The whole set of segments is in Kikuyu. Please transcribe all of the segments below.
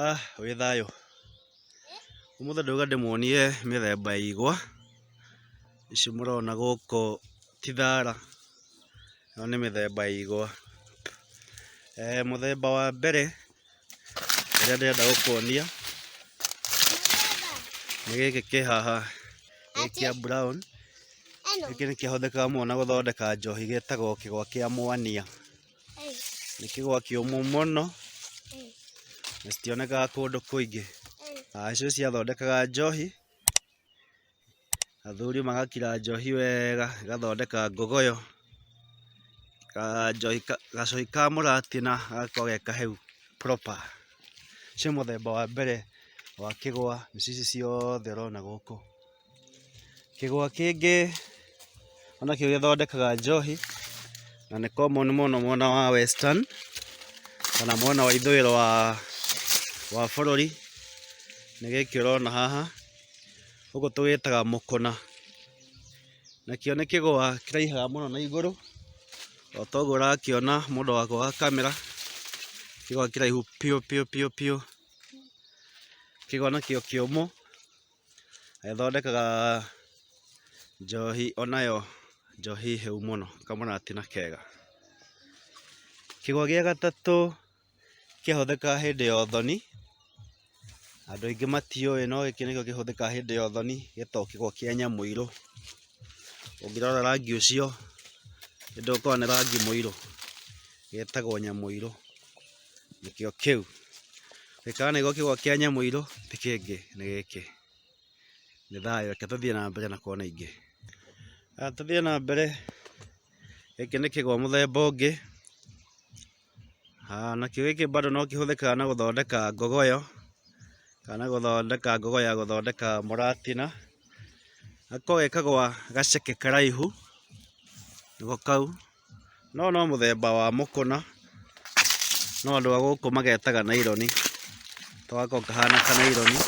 Ah, wĩ thayũ. Ũmũthĩ ndauga ndĩmuonie mĩthemba ya igwa. Ici mũrona gũkũ ti thara. Ĩno nĩ mĩthemba ya igwa. Eh, mũthemba wa mbere ũrĩa ndĩrenda gũkuonia nĩ gĩkĩ kĩ haha gĩ kĩa brown. Gĩkĩ nĩ kĩhũthĩkaga mũno na gũthondeka njohi gĩtagwo kĩgwa kĩa mwania. Nĩ kĩgwa kĩũmũ mũno, na citionekaga kũndũ kũingĩ. Acio ciathondekaga njohi, athuri magakira njohi wega, ĩgathondeka ngogoyo, gacohi ka mũratina gagakorwo ge kahehu proper. Ũcio nĩ mũthemba wa mbere wa kĩgwa, mĩciĩ ici ciothe ũrona gũkũ. Kĩgwa kĩngĩ o nakĩo gĩthondekaga njohi, na nĩ common mũno mwena wa western, kana mwena wa ithũĩro wa wa bũrũri, nĩ gĩkĩ ũrona haha, gũkũ tũgĩtaga mũkũna. Nakĩo nĩ kĩgwa kĩraihaga mũno na igũrũ, o ta ũguo ũrakĩona mũndũ wako wa kamera, kĩgwa kĩraihu biũ biũ biũ biũ. Kĩgwa nakĩo kĩũmũ. Ĩthondekaga njohi o nayo njohi hĩu mũno, kamarati na kega. Kĩgwa gĩa gatatũ kĩhũthĩkaga hĩndĩ ya ũthoni, andũ aingĩ matiũĩ no gĩkĩ nĩkĩo kĩhũthĩkaga hĩndĩ ya ũthoni, gĩtagwo kĩgwa kĩa nyamũirũ. Ũngĩrora rangi ũcio, nĩ ndũgũkorwo nĩ rangi mũirũ? Gĩtagwo nyamũirũ. nĩkĩo kĩu. Gĩkaga nĩguo kĩgwa kĩa Nyamũirũ ti kĩngĩ nĩ gĩkĩ. Nĩ thayũ, reke tũthiĩ na mbere na kona ingĩ. Haya tũthiĩ na mbere, gĩkĩ nĩ kĩgwa mũthemba ũngĩ. Haya nakĩo gĩkĩ bado no kĩhũthĩkaga na gũthondeka ngogoyo, kana gũthondeka ngogoyo ya gũthondeka mũratina. Gakoragwo ge kagwa gaceke karaihu, nĩguo kau. No no mũthemba wa mũkũna, no andũ a gũkũ magetaga naironi. To gako kahana kanaironi,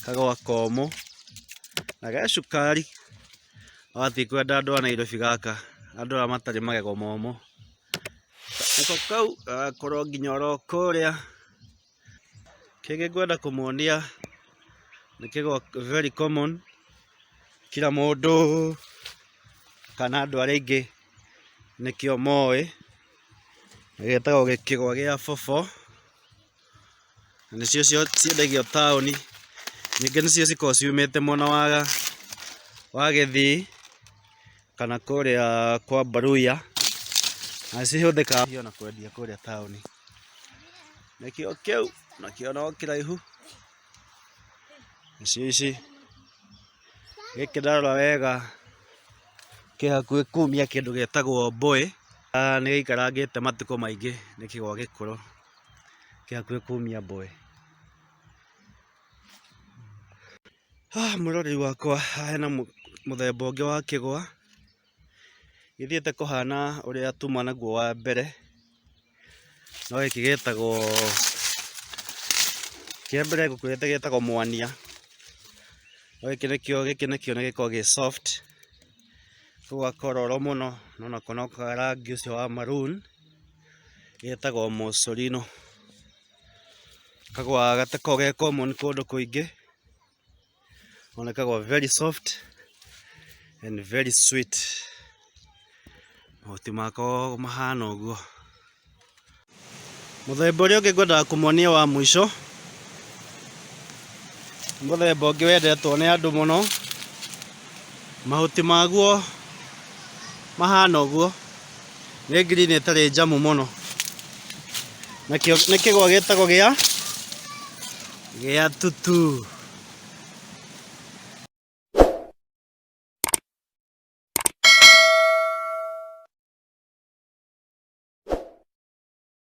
kagwa komũ, na ge cukari. Wathiĩ kwenda andũ a Nairobi gaka, andũ arĩa matarĩ magego momũ. Nako kau gagakorwo nginya oro kũrĩa. Kĩngĩ ngwenda kũmonia nĩ kĩgo very common kira mũndũ kana andũ arĩa aingĩ nĩkĩo moĩ, gĩtagwo gĩkĩgwa gĩa bobho, na nĩcio ciendagio taũni, ningĩ nĩcio cikoragwo ciumĩte mwena wa Gĩthii kana kũrĩa kwa Mbaruhia, na cihũthĩkaga ona kwendia kũrĩa taũni. Nĩkĩo kĩu, nakĩo no kĩraihu. Gĩcici gĩkĩ ndarora wega kĩ hakuhĩ kumia kĩndũ gĩtagwo mbũĩ. Nĩ gĩikarangĩte matukũ maingĩ nĩ kĩgwa gĩkũrũ, kĩ hakuhĩ kumia mbũĩ. Mwĩroreri wakwa, hena mũthemba ũngĩ wa kĩgwa. Gĩthiĩte kũhana ũrĩa tuma naguo wa mbere, no gĩkĩ gĩtagwo, kĩa mbere ngũkwĩrĩte gĩtagwo mwania, no gĩkĩ nĩkĩo, gĩkĩ nĩkĩo nĩ gĩkoragwo gĩ soft, kau gakororo mũno no nako no ka rangi ũcio wa maroon, getagwo mosorino, kagũaga gatakoragwo ge common kũndũ kũingĩ. Unaonekana kwa very soft and very sweet. Mahuti mako mahana ũguo. Mũthemba ũrĩa ũngĩ ngwendaga kũmonia wa mũico mũthemba ũngĩ wendetwo nĩ andũ mũno mahuti maguo mahana ũguo Nĩ green ĩtarĩ njamu mũno. Nakĩo nĩ kĩgwa gĩtagwo gĩa gĩa tutu.